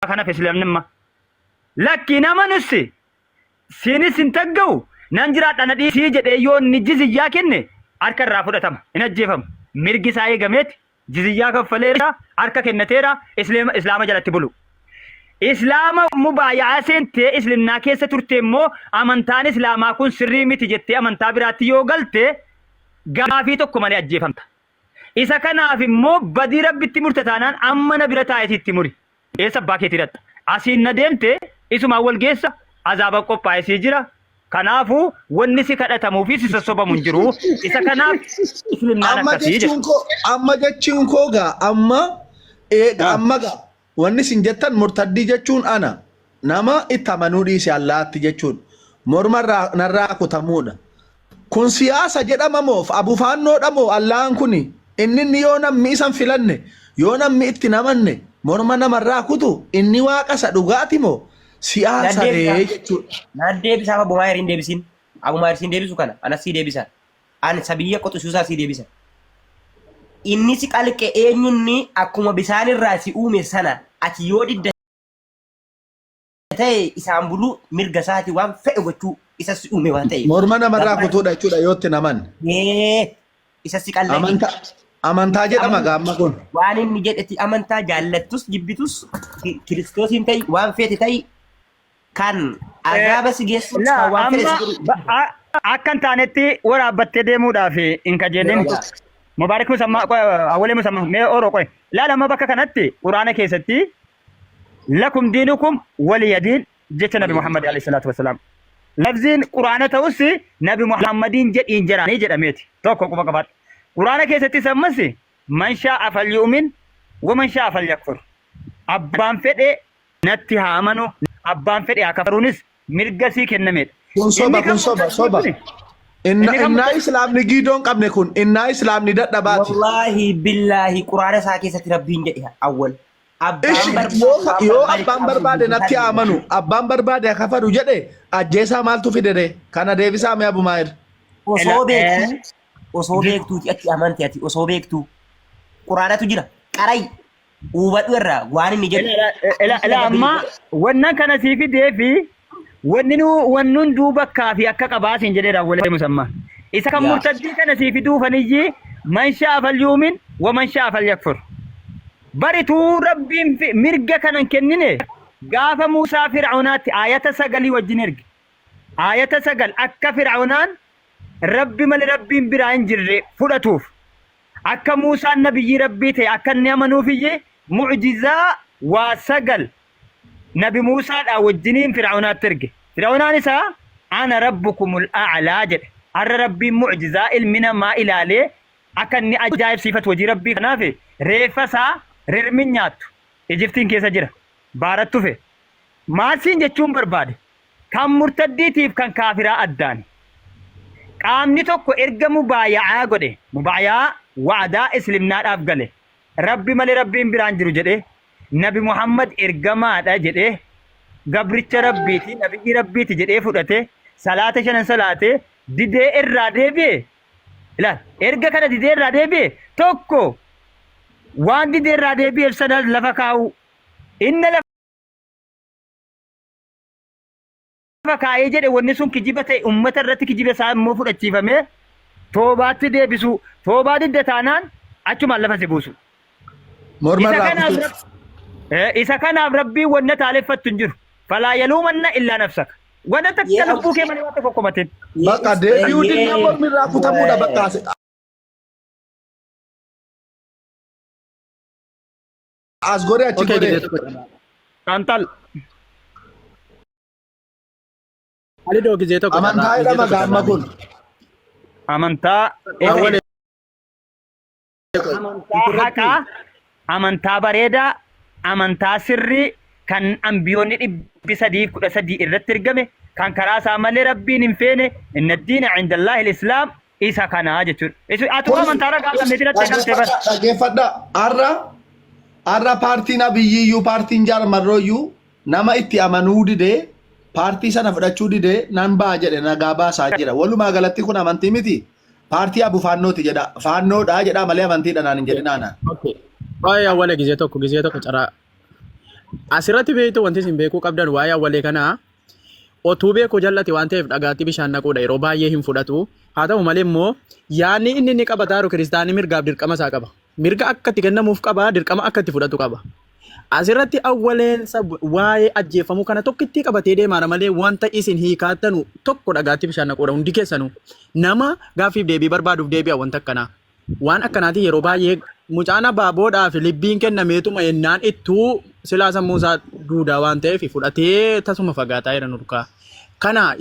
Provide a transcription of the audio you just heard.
kanaf islamnimma lakki nama nussi siinis hin tagga'u nan jiraadha na dhiisii jedhee yoo inni jiziyyaa kenne harka irraa fudhatama hin ajjeefamu mirgi isaa eegameeti jiziyyaa kaffaleera harka kennateera islaama islaama jalatti bulu islaama mubaayaa seentee islimnaa keessa turte immoo amantaan islaamaa kun sirrii miti jettee amantaa biraatti yoo galte gaafii tokko malee ajjeefamta Isa kanaaf immoo badii rabbi itti murte taanaan amma na bira taa'eeti itti muri. Eessa abbaa keetii dhaqxa? Asiin na deemte isumaan wal geessa azaaba qophaa'e sii jira. Kanaafu wanni si kadhatamuu fi si sossobamu hin jiru. Isa kanaaf islimnaan Amma akkasii jechuun jedha. koo amma jechuun koo gaa amma ee, Ah. amma gaa Wanni isin jettan murtaddii jechuun ana, nama itti amanuu dhiise Allaahatti jechuun morma irraa narraa kutamuudha. Kun siyaasa jedhama moo of abufaannoodha moo Allaahaan kuni inninni yoo nammi isan filanne, yoo nammi itti hin amanne morma nama irraa kutu inni waaqa isa dhugaati moo siyaasa ree jechuudha. Naaf deebisaa amma Bumaayir hin deebisiin. Abumaayir siin deebisu kana anas sii deebisa. Ani sabiyya quxusuusaa sii deebisa. Inni si qalqe eenyunni akkuma bisaan irraa si uume sana ati yoo didda ta'e isaan buluu mirga isaati waan fedhe gochuu isa si uume waan ta'eef. Morma namarraa Gabbaa- kutuudha jechuudha yoo itti naman. Ee, isa si qalqe Amantaa amantaa jedhama gaamma kun. waan inni jedhetti amantaa jaallattus jibbitus ki- kiristoosiin ta'i waan feete ta'i kan Eh, azaaba si geessuuf laa kan waan fedhe amma si godhu ba- dhiisa. a- akka hin taanetti waraabbattee deemuudhaaf hin kajeelin Yaa. mubaarik musammaa qoy awwalee musammaa mee oro qoy laala amma bakka kanatti quraana keessatti lakum diinukum waliya diin jecha nabi muhammad alayhi salaatu wasalaam labziin quraana ta'us nabi muhammadiin jedhiin jedhaanii jedhameeti tokko quba qabaadha quraana keessattis ammas man shaa'a falyu'min waman shaa'a falyakfur abbaan fedhe natti haa amanu abbaan fedhe haa kafaruunis mirga isii kennameedha. Kun Inni soba, kan kun soba, mucaan soba. kuni- Inna, Inni kan innaa mucaan- islaamni giidoo hin qabne kun, innaa islaamni dadhabaati. Wallaahi billaahi quraana isaa keessatti rabbiin jedhe awwal. Ishi, Abbaan yoo, barbaade yoo abbaan qabu barbaade natti bilisaan amanu, abbaan barbaade haa kafaru jedhe, ajjeesaa maaltu fidere? Kana deebisaa mee Abu Maahir. Osoo Ela- beektuu osoo beektuuti ati amante ati osoo beektuu quraanatu jira qaray Hubadhu irraa waan inni jedhu. Ila- ila- ila- ila- ila amma wannan kana sii fidee fi wanni nu wanni hunduu bakkaa fi akka qabaasin jedhee raawwalee musamma isa kan Yaa. murtaddii kana sii fiduu faniyyi man sha'a falyuumin wa man sha'a falyakfur barituu rabbiin fi- mirga kanan kennine gaafa muusaa fir'aunaatti aayata sagalii wajjin erge aayata sagal akka fir'aunaan rabbi malee rabbiin biraa hin jirre fudhatuuf Akka Muusaan Nabiyyii Rabbii ta'e akka inni amanuufiyyi mu'ujizaa waa sagal Nabi Muusaadhaa wajjiniin Fir'awnaatti erge. Fir'awnaan isaa Ana Rabbukumul A'laa jedhe. Arra Rabbiin mu'ujizaa ilmi namaa ilaalee akka inni ajaa'ibsiifatu hojii Rabbii kanaaf reeffa isaa rirmin nyaattu Ijiptiin keessa jira. Baarattufe. Maal siin jechuun barbaade? Kan murtaddiitiif kan kaafiraa addaan. Qaamni tokko erga mubaaya'aa godhe, mubaaya'aa, wa'adaa, islimnaadhaaf gale, Rabbi malee Rabbiin biraa hin jiru jedhee, Nabi Muhammad ergamaadha jedhee, gabricha Rabbiiti, nabiyyii Rabbiiti jedhee fudhatee, salaata shanan salaatee, didee irraa deebi'e, ilaal, erga kana didee irraa deebi'e, tokko waan didee irraa deebi'eef sana lafa kaa'uu, inna lafa Nama kaa'ee jedhe wanni sun kijiba ta'e uummata irratti kijiba isaa immoo fudhachiifamee toobaatti deebisuu toobaa didda taanaan achumaan lafa si buusu. Morma Isa irraa kanaaf kutee. rab- Eh, isa kanaaf rabbiin wanna taaleffattu hin jiru. Falaa yaluumanna illaa nafsaka. Wanna Yee, takka lubbuu kee malee waan tokko komatin. Bakka deebi'uu dinnaa mormi irraa kutamuudha bakka. As godhee achi Okay, godhee. gizee Kantal. Alidoo gizee tokko Amantaa jedha maga amma kun. Amantaa. Awwal Amantaa haqaa, amantaa bareedaa, amantaa sirrii kan ambiyoonni dhibbi sadii kudha sadii irratti ergame kan karaa isaa malee rabbiin hin feene inna diina cindallahi islaam isa kana jechuudha. Isu atu Kun- amantaa ragaa kan meetii lattee kan ta'e bara. Dhaggeeffadha. Har'a har'a paartiin abiyyiyyuu paartiin jaarmarrooyyuu nama itti amanuu didee paartii sana fudhachuu didee nan ba'a jedhe nagaa baasaa jira. Walumaa galatti kun amantii miti. Paartii abu faannooti jedha. Faannoodha jedha malee amantiidha naan hin jedhinaana. Okay. Waa'ee awwalee gizee tokko gizee tokko caraa. Asirratti beektu wanti isin beekuu qabdan waa'ee awwalee kanaa Otuu beekuu jal'ate waan ta'eef dhagaatti bishaan naquudha yeroo baay'ee hin fudhatu. Haa ta'u malee immoo yaadni inni inni qaba taaru kiristaanni mirgaaf dirqama isaa qaba. Mirga akka itti kennamuuf qaba, dirqama akka itti fudhatu qaba. Asirratti awwaleensa waa'ee ajjeeffamuu kana tokkittii qabatee deemaara malee wanta isin hiikaattanu tokko dhagaatti bishaan naquudha hundi keessanuu. Nama gaaffiif deebii barbaaduuf deebi'a wanta akkanaa. Waan akkanaatiin yeroo baay'ee mucaan abbaa boodhaa fi libbiin kennameetuma ennaan ittuu silaa sammuu isaa duudaa waan ta'eef fudhatee tasuma fagaataa jira nurkaa. Kana